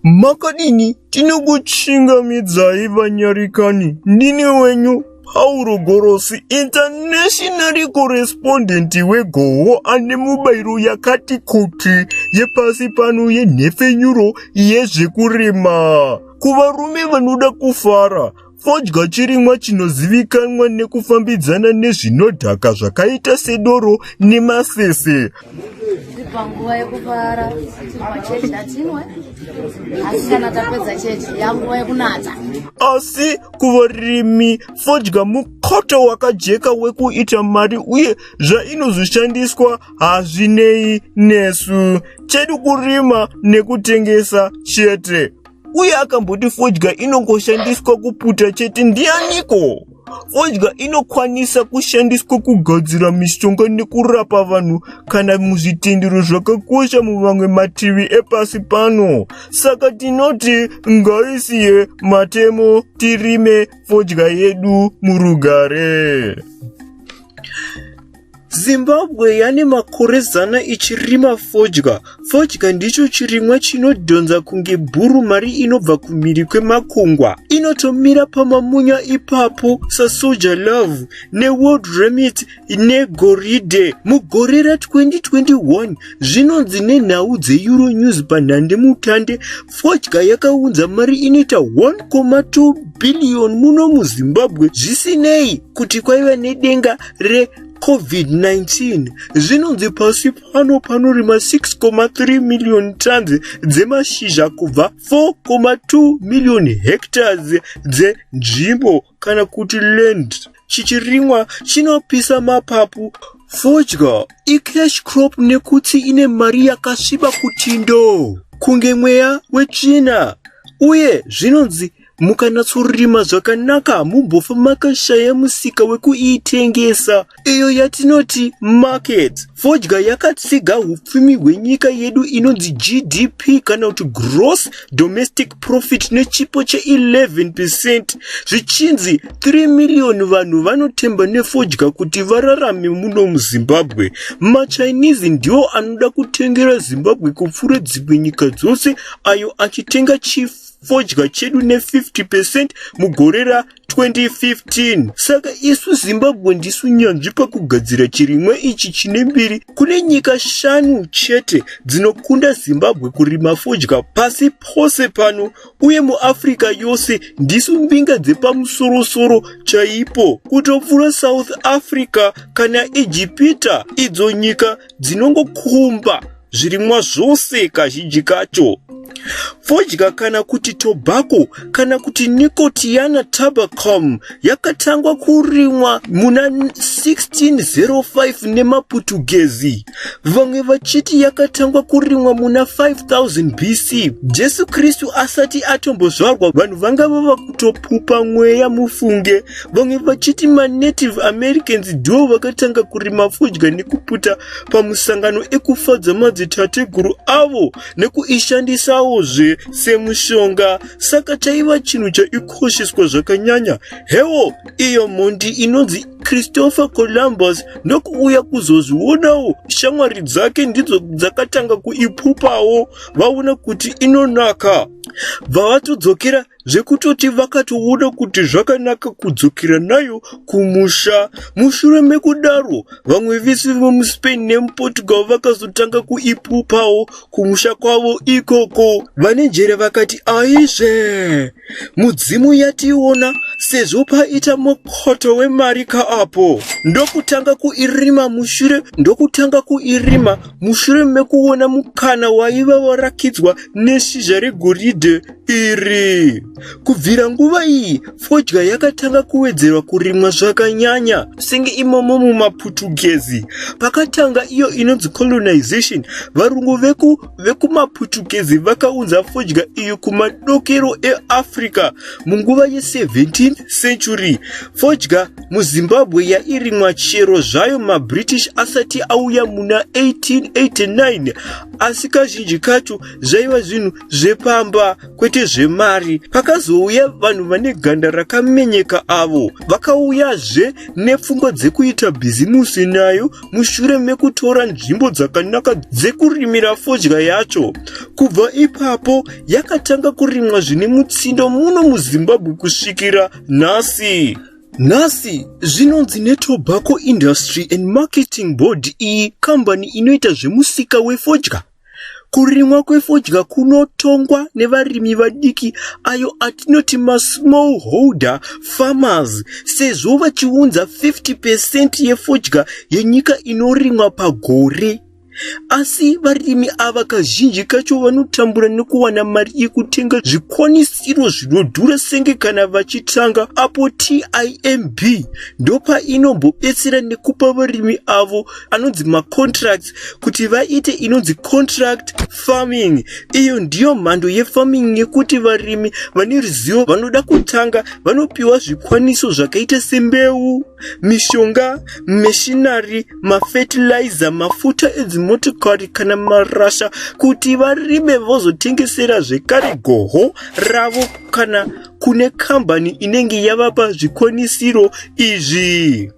makadini tinokuchingamidzai vanyarikani ndini wenyu pauro gorosi internationally correspondent wegoho ane mubairo yakati kuti yepasi pano yenhepfenyuro yezvekurima kuvarume vanoda kufara Fodya chirimwa chinozivikanwa nekufambidzana nezvinodhaka zvakaita sedoro nemafefe. Panguva yekufara machechi hatinwe asi kana tapedza chechi yanguva yekunata. Asi kuvarimi fodya mukoto wakajeka wekuita mari uye zvainozoshandiswa hazvinei nesu. Chedu kurima nekutengesa chete. uye akamboti fodya inongoshandiswa kuputa chete ndianiko fodya inokwanisa kushandiswa kugadzira mishonga nekurapa vanhu kana muzvitendero zvakakosha muvamwe mativi epasi pano saka tinoti ngaisiye matemo tirime fodya yedu murugare Zimbabwe yane makore zana ichirima fodya. Fodya ndicho chirimwa chinodhonza kunge bhuru mari inobva kumhiri kwemakungwa. Inotomira pamamunya ipapo sasoja love neworld remit negoridhe. Mugore ra2021 zvinonzi nenhau dzeeuronews panhande mutande fodya yakaunza mari inoita 1,2 billion muno muzimbabwe zvisinei kuti kwaiva nedenga reCovid-19 zvinonzi pasi pano panorima 6.3 million tons dzemashizha kubva 4.2 million hectares dzenzvimbo kana kuti land chichirimwa chinopisa mapapu fodya icash crop nekuti ine mari yakasviba kuti ndo kunge mweya wetsvina uye zvinonzi mukanatsorima zvakanaka hamumbofa makashaya musika wekuitengesa iyo yatinoti market fodya yakatsiga upfumi hwenyika yedu inonzi gdp kana kuti gross domestic profit nechipo che11 percent zvichinzi 3 miriyoni vanhu vanotemba nefodya kuti vararame muno muzimbabwe machinese ndiwo anoda kutengera zimbabwe kupfuura dzimwe nyika dzose ayo achitenga chifu fodya chedu ne 50 percent mugore ra 2015 saka isu zimbabwe ndisu nyanzvi pakugadzira chirimwa ichi chine mbiri kune nyika shanu chete dzinokunda zimbabwe kurima fodya pasi pose pano uye muafrica yose ndisu mbinga dzepamusorosoro chaipo kutopfura south africa kana ejipita idzo nyika dzinongokumba zvirimwa zvose kazhinji kacho fodya kana kuti tobacco kana kuti nicotiana tabacum yakatangwa kurimwa muna 1605 nemaputugezi vamwe vachiti yakatangwa kurimwa muna 5000 bc jesu kristu asati atombozvarwa vanhu vanga vava kutopupa mweya mufunge vamwe vachiti manative americans ndivo vakatanga kurima fodya nekuputa pamusangano ekufadza madzitateguru avo nekuishandisawo zve semushonga saka chaiva chinhu chaikosheswa zvakanyanya hewo iyo mhondi inonzi christopher columbus ndokuuya kuzozvionawo shamwari dzake ndidzo dzakatanga kuipupawo vaona kuti inonaka bva vatodzokera zvekutoti vakatoona kuti zvakanaka kudzokera nayo kumusha. Mushure mekudaro, vamwe vese vemuSpain nemuPortugal vakazotanga kuipupawo kumusha kwavo ikoko. Vane njere vakati, Aizve, mudzimu yationa sezvo paita mukhoto wemari kaapo. Ndokutanga kuirima mushure ndokutanga kuirima mushure mekuona mukana waiva warakidzwa neshizha regoridhe. iri. Kubvira nguva iyi, fodya yakatanga kuwedzerwa kurimwa zvakanyanya, senge imomo mumaPutugezi. Pakatanga iyo inonzi colonization, varungu veku vekumaPutugezi vakaunza fodya iyo kumadokero eAfrica munguva ye17th century. Fodya muZimbabwe yairimwa chero zvayo maBritish asati auya muna 1889 asi kazhinji kacho zvaiva zvinhu zvepamba kwete zvemari pakazouya vanhu vane ganda rakamenyeka avo vakauyazve nepfungwa dzekuita bhizimusi nayo mushure mekutora nzvimbo dzakanaka dzekurimira fodya yacho kubva ipapo yakatanga kurimwa zvine mutsindo muno muzimbabwe kusvikira nhasi nhasi zvinonzi netobacco industry and marketing board iyi kambani inoita zvemusika wefodya Kurimwa kwefodya kunotongwa nevarimi vadiki ayo atinoti masmall holder farmers sezvo vachiunza 50 percent yefodya yenyika inorimwa pagore. Asi varimi ava kazhinji kacho vanotambura nekuwana mari yekutenga zvikwanisiro zvinodhura senge kana vachitanga apo TIMB ndopainombo betsera nekupa varimi avo anonzi macontracts kuti vaite inonzi contract farming iyo ndiyo mhando yefarming yekuti varimi vane ruzivo vanoda kutanga vanopiwa zvikwaniso zvakaita sembeu mishonga meshinari mafetilizer mafuta edzimotokari kana marasha kuti varime vozotengesera zvekare goho ravo kana kune kambani inenge yavapa zvikwanisiro izvi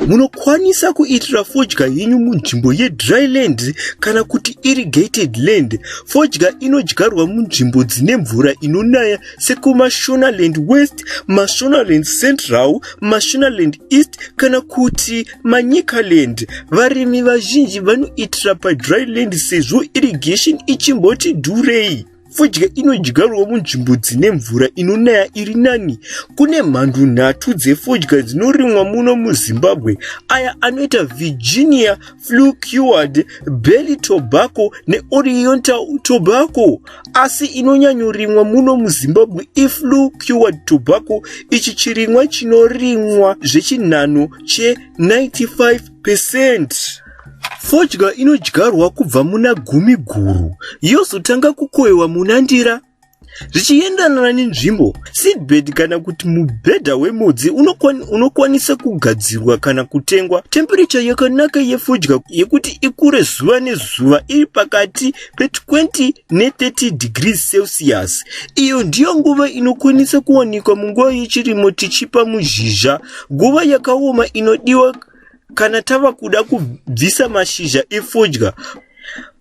Munokwanisa kuitira fodya yenyu munzvimbo yedry land kana kuti irrigated land. Fodya inodyarwa munzvimbo dzine mvura inonaya sekuMashonaland West, Mashonaland Central, Mashonaland East kana kuti Manyikaland. Varimi vazhinji vanoitira padry land sezvo irrigation ichimboti dhurei. Fodya inodyarwa munzvimbo dzine mvura inonaya iri nani. Kune mhandu nhatu dzefodya dzinorimwa muno muZimbabwe, aya anoita Virginia, Flu Cured, Belly Tobacco neOriental Tobacco. Asi inonyanyorimwa muno muZimbabwe iFlu Cured Tobacco, ichi chirimwa chinorimwa zvechinhano che 95 percent. Fodya inodyarwa kubva muna gumi guru yozotanga kukoiwa muna ndira zvichiendanana nenzvimbo seedbed kana kuti mubhedha wemudzi unokwanisa kugadzirwa kana kutengwa temperecha yakanaka yefodya yekuti ikure zuva nezuva iri pakati pe20 ne30 degrees celsius iyo ndiyo nguva inokwanisa kuwanikwa munguva yechirimo tichipa muzhizha nguva yakaoma inodiwa Kana tava kuda kubvisa mashizha efodya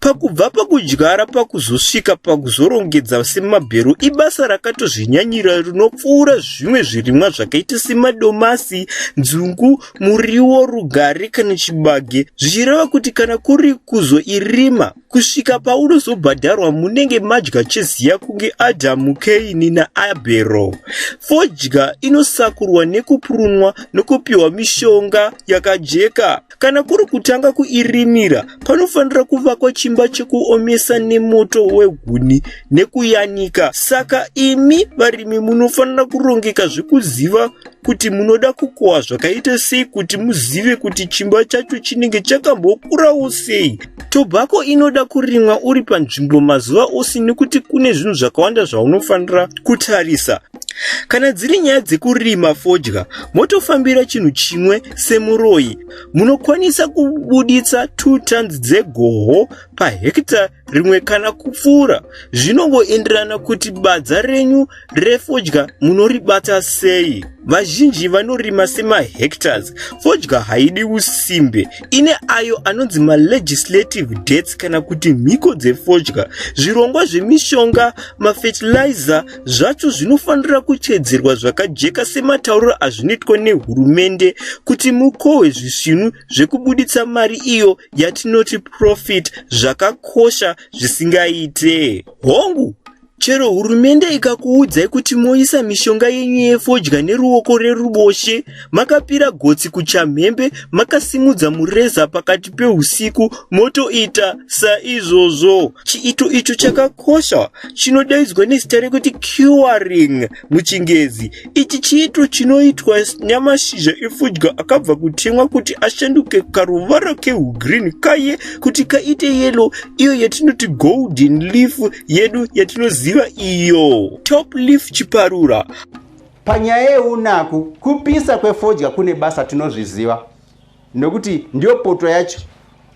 pakubva pakudyara pakuzosvika pakuzorongedza semabhero ibasa rakatozvinyanyira rinopfuura zvimwe zvirimwa zvakaita semadomasi nzungu muriwo rugare kana chibage zvichireva kuti kana kuri kuzoirima kusvika paunozobhadharwa munenge madya cheziya kunge adhamu keini naabhero fodya inosakurwa nekupurunwa nokupiwa mishonga yakajeka kana kuri kutanga kuirimira panofanira kuvakwa chimba chekuomesa nemoto wehuni nekuyanika saka imi varimi munofanira kurongeka zvekuziva kuti munoda kukohwa zvakaita sei kuti muzive kuti chimba chacho chinenge chakambokurawo sei tobhako inoda kurimwa uri panzvimbo mazuva ose nekuti kune zvinhu zvakawanda zvaunofanira kutarisa kana dziri nyaya dzekurima fodya motofambira chinhu chimwe semuroyi munokwanisa kubuditsa two tons dzegoho pahekita rimwe kana kupfuura zvinongoenderana kuti badza renyu refodya munoribata sei vazhinji vanorima semahectors fodya haidi usimbe ine ayo anonzi malegislative dates kana kuti mhiko dzefodya zvirongwa zvemishonga mafetilizer zvacho zvinofanira kuteedzerwa zvakajeka sematauriro azvinoitwa nehurumende kuti mukohwe zvisvinu zvekubuditsa mari iyo yatinoti profit zvakakosha zvisingaite hongu chero hurumende ikakuudzai kuti moisa mishonga yenyu yefodya neruoko reruboshe makapira gotsi kuchamhembe makasimudza mureza pakati peusiku motoita saizvozvo chiito icho chakakosha chinodaidzwa nezita rekuti curing muchingezi ichi chiito chinoitwa nyamashizha efudya akabva kutemwa kuti ashanduke karuvara keugreen kaye kuti kaite yelo iyo yatinoti golden leaf yedu yatinoziva iyo top leaf chiparura panyaya yeunaku kupisa kwefodya kune basa tinozviziva nokuti ndiyo poto yacho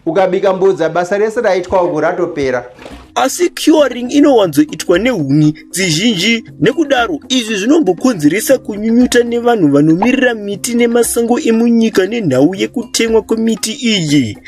ukabika mbodza basa rese raitwa uku ratopera asi curing inowanzoitwa nehuni dzizhinji nekudaro izvi zvinombokonzeresa kunyunyuta nevanhu vanomirira miti nemasango emunyika nenhau yekutemwa kwemiti iyi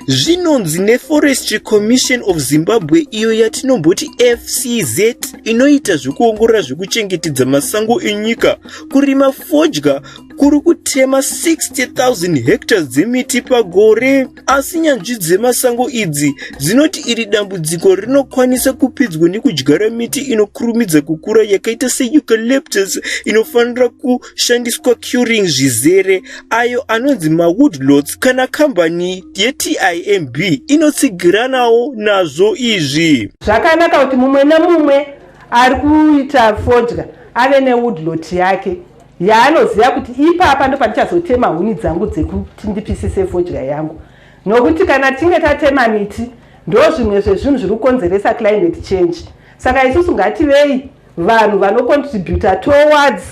zvinonzi neforestry commission of zimbabwe iyo yatinomboti fcz inoita zvekuongorora zvekuchengetedza masango enyika kurima fodya kuri kutema 60,000 hectares dzemiti pagore asi nyanzvi dzemasango idzi dzinoti iri dambudziko rinokwanisa kupidzwa nekudyara miti inokurumidza kukura yakaita seucalyptus inofanira kushandiswa curing zvizere ayo anonzi mawoodlots kana kambani yetimb inotsigiranawo nazvo izvi zvakanaka kuti mumwe nemumwe ari kuita fodya ave newoodlot yake yaanoziva kuti ipapa ndopatichazotema huni dzangu dzekuti ndipisise fodya yangu nokuti kana tinge tatema miti ndozvimwe zvezvinhu zviri kukonzeresa climate change saka isusu ngativei vanhu vanocontributa towards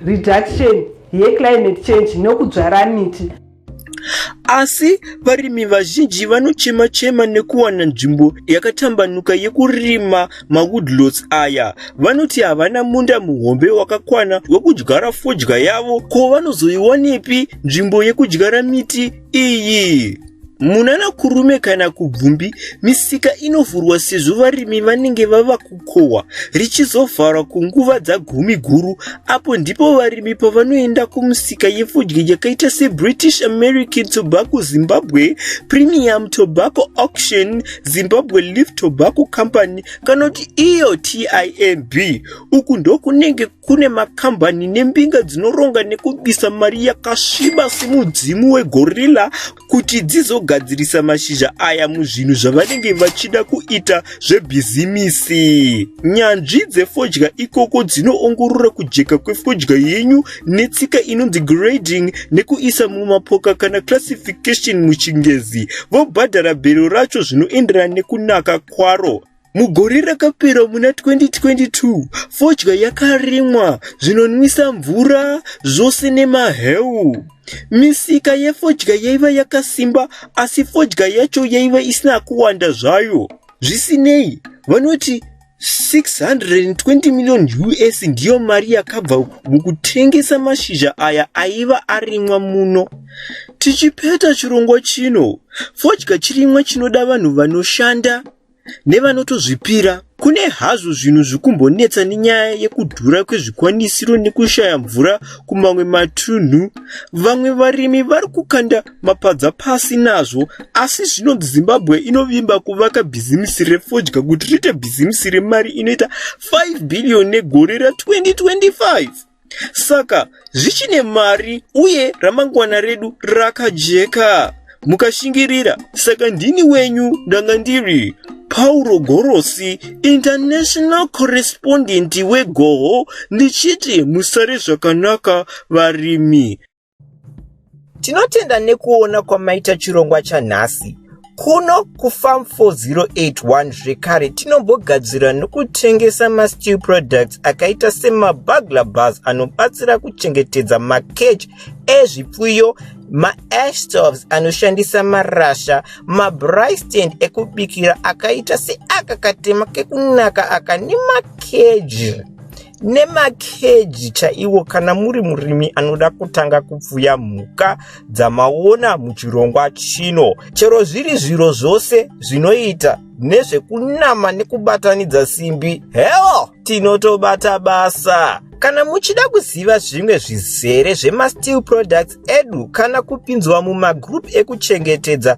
reduction yeclimate change nokudzvara miti Asi varimi vazhinji vanochema-chema nekuwana nzvimbo yakatambanuka yekurima mawoodlots aya. Vanoti havana munda muhombe wakakwana wekudyara fodya yavo, ko vanozoiwanepi nzvimbo yekudyara miti iyi? Munana Kurume kana Kubvumbi, misika inovhurwa sezvo varimi vanenge vava ku kukohwa richizovharwa kunguva dzagumi guru apo ndipo varimi pavanoenda kumusika yefodya yakaita sebritish american tobacco zimbabwe premium tobacco auction zimbabwe leaf tobacco company kana kuti iyo timb uku ndokunenge kune makambani nembinga dzinoronga nekubisa mari yakasviba semudzimu wegorilla kuti dzizogadzirisa mashizha aya muzvinhu zvavanenge vachida kuita zvebhizimisi nyanzvi dzefodya ikoko dzinoongorora kujeka kwefodya yenyu netsika inonzi grading nekuisa mumapoka kana classification muchingezi vobhadhara bhero racho zvinoenderana nekunaka kwaro Mugore rakapera muna 2022, fodya yakarimwa, zvinonwisa mvura, zvose nemaheu. Misika yefodya yaiva yakasimba asi fodya yacho yaiva isina kuwanda zvayo. Zvisinei, vanoti 620 million US ndiyo mari yakabva mukutengesa mashizha aya aiva arimwa muno. Tichipeta chirongwa chino, fodya chirimwa chinoda vanhu vanoshanda nevanotozvipira kune hazvo zvinhu zvikumbonetsa nenyaya yekudhura kwezvikwanisiro nekushaya mvura kumamwe matunhu vamwe varimi vari kukanda mapadza pasi nazvo asi zvinonzi zimbabwe inovimba kuvaka bhizimisi refodya kuti riite bhizimisi remari inoita 5 bhiriyoni negore ra 2025 Saka zvichine mari uye ramangwana redu rakajeka. Mukashingirira, saka ndini wenyu ndanga ndiri Pauro Gorosi, international correspondent weGoho, ndichiti musare zvakanaka varimi. Tinotenda nekuona kwamaita chirongwa chanhasi. Kuno kuFarm 4081 zvekare tinombogadzira nokutengesa masteel products akaita semabugler bars anobatsira kuchengetedza makeji ezvipfuyo maashtoves anoshandisa marasha mabrystend ekubikira akaita seaka katema kekunaka aka nemakeji nemakeji chaiwo kana muri murimi anoda kutanga kupfuya mhuka dzamaona muchirongwa chino chero zviri zviro zvose zvinoita nezvekunama nekubatanidza simbi heo tinotobata basa kana muchida kuziva zvimwe zvizere zvemasteel products edu kana kupinzwa mumagroup ekuchengetedza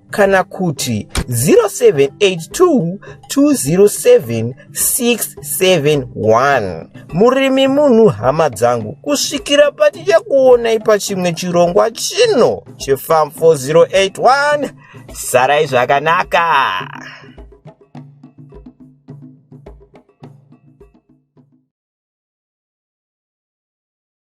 kana kuti 0782207671 murimi munhu hama dzangu kusvikira patichakuonai pachimwe chirongwa chino chefam 4081 sarai zvakanaka